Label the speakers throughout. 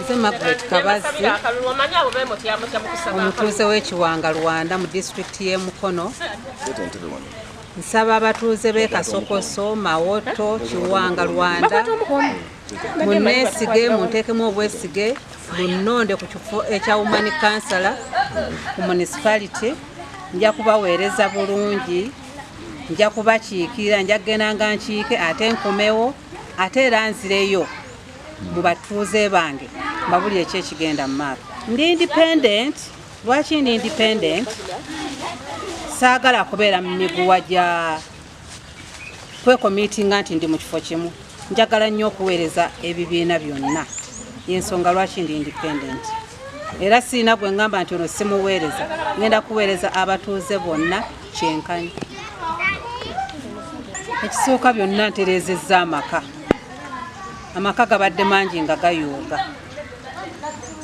Speaker 1: nze magret kabazzi omutuuze w'ekiwanga rwanda mu disitulikiti y'e mukono nsaba abatuuze b'e kasokoso mawoto kiwanga rwanda muneesige munteekemu obwesige bunnonde ku kifo ekya woman kansala ku municipality nja kubaweereza bulungi nja kubakiikirira nja kugenda nga nkiike ate nkomewo ate era nzireyo mu batuuze bange mbabulire ki ekigenda mu maaso ndi independent lwaki ndi independent saagala kubeera mu miguwa gya kwekomiitinga nti ndi mu kifo kimu njagala nnyo okuweereza ebibiina byonna yensonga lwaki ndi independent era siina gwe ngamba nti ono simuweereza ngenda kuweereza abatuuze bonna kyenkanyi ekisooka byonna ntereezezza amaka amaka gabadde mangi nga gayuuga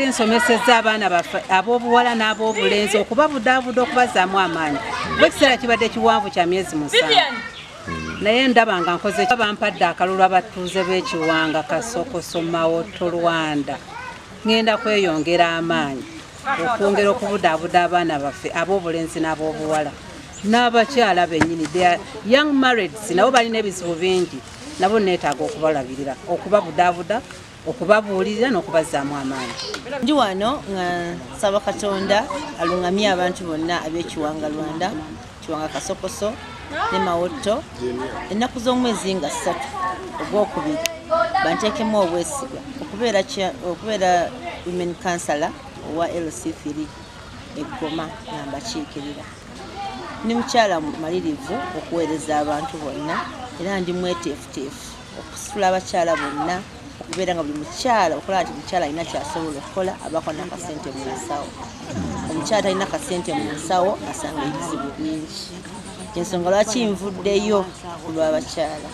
Speaker 1: nsomeseza abaana baffe ab'obuwala n'ab'obulenzi okubabudaabuda okubazaamu amaanyi kuba ekiseera kibadde kiwanvu kya myezi musanvu naye ndaba nga nkoze bampadde akalulu abatuuze b'ekiwanga kasokoso mawoto rwanda ŋŋenda kweyongera amaanyi okwongera okubudaabuda abaana baffe ab'obulenzi n'ab'obuwala n'abakyala bennyini young marrieds nabo balina ebizibu bingi nabo neetaaga okubalabirira okubabudaabuda okubabuulirira n'okubazzaamu amaanyi ndi wano
Speaker 2: nga nsaba katonda aluŋamye abantu bonna ab'ekiwanga rwanda kiwanga kasokoso ne mawotto ennaku z'omwezi nga ssatu ogwokubiri banteekemu obwesiga okubeera women councilor owa lc3 eggoma nga mbakiikirira Ndi mukyala mumalirivu okuweereza abantu bonna era ndi mweteefuteefu okusitula abakyala bonna okubeera nga buli mukyala okulaba nti mukyala alina kyasobola okukola abako nakasente mu nsawo omukyala talina kasente mu nsawo asanga ebizibu bingi ensonga lwaki nvuddeyo kulwabakyala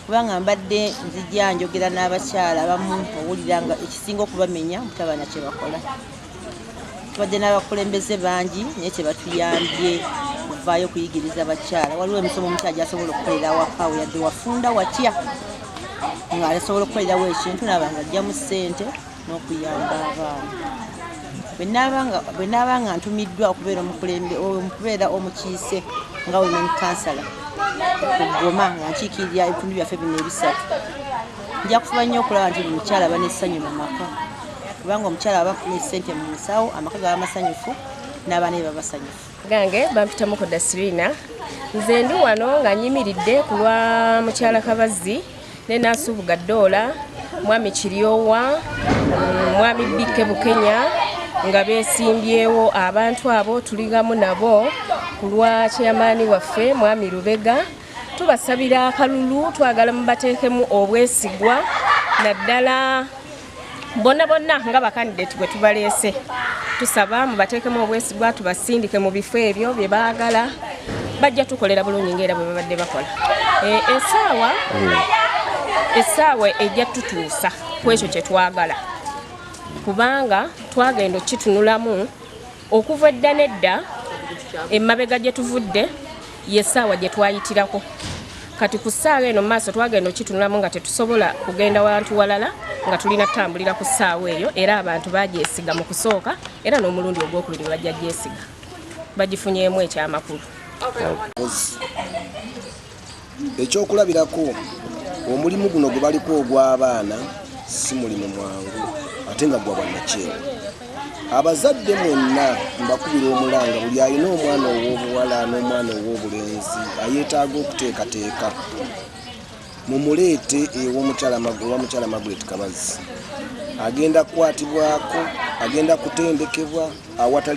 Speaker 2: kubanga mbadde nzija njogera n'abakyala abamu owulira nga ekisinga okubamenya mutabana kyebakola tubadde n'abakulembeze bangi naye kyebatuyambye kuvaayo okuyigiriza abakyala waliwo emisomo omukyala gyasobola okukolera awaka we yadde wafunda watya nga asobola okukolerawo ekintu naaba nga ajjamu ssente n'okuyamba abaana bwe naaba nga ntumiddwa okubeera omukubeera omukiise nga women kansala okugoma nga nkiikirira ebitundu byaffe bino ebisatu nja kufuba nnyo okulaba nti buli mukyala banessanyu mu maka kubanga omukyala aba afuna esente mu nsawo amaka gaba masanyufu n'abaana be baba basanyufu gange bampitamu
Speaker 3: ku dasirina nze ndi wano nga nyimiridde ku lwa mukyala kabazzi ne nasubuga doola mwami kiryowa mm, mwami bikke bukenya nga besimbyewo abantu abo tuligamu nabo ku lwa kyeyamaani waffe mwami lubega tubasabira akalulu twagala mubateekemu obwesigwa naddala bonna bonna nga bakandidate bwe tubaleese tusaba mubateekemu obwesigwa tubasindike mu bifo ebyo bye baagala bajja tukolera bulungi ngaera bwe babadde bakola eh, esaawa hmm. esaawa ejja tutuusa ku ekyo kye twagala kubanga twagenda okukitunulamu okuva edda nedda emabega gye tuvudde yesaawa gye twayitirako kati ku ssaawa eno maaso twagenda okitunulamu nga tetusobola kugenda wantu walala nga tulina tutambulira ku ssaawa eyo era abantu bagyesiga mu kusooka era n'omulundi ogwokubiri bajja gyesiga bagifunyeemu ekyamakulu
Speaker 4: Ekyokulabirako, omulimu guno gwe baliko ogw'abaana si mulimu mwangu ate nga gwa bwannakyewa. Abazadde mwenna mbakubira omulanga buli alina omwana ow'obuwala n'omwana ow'obulenzi ayeetaaga okuteekateeka mumuleete ew'omukyala owa mukyala Margaret Kabazzi agenda kukwatibwako agenda kutendekebwa awatali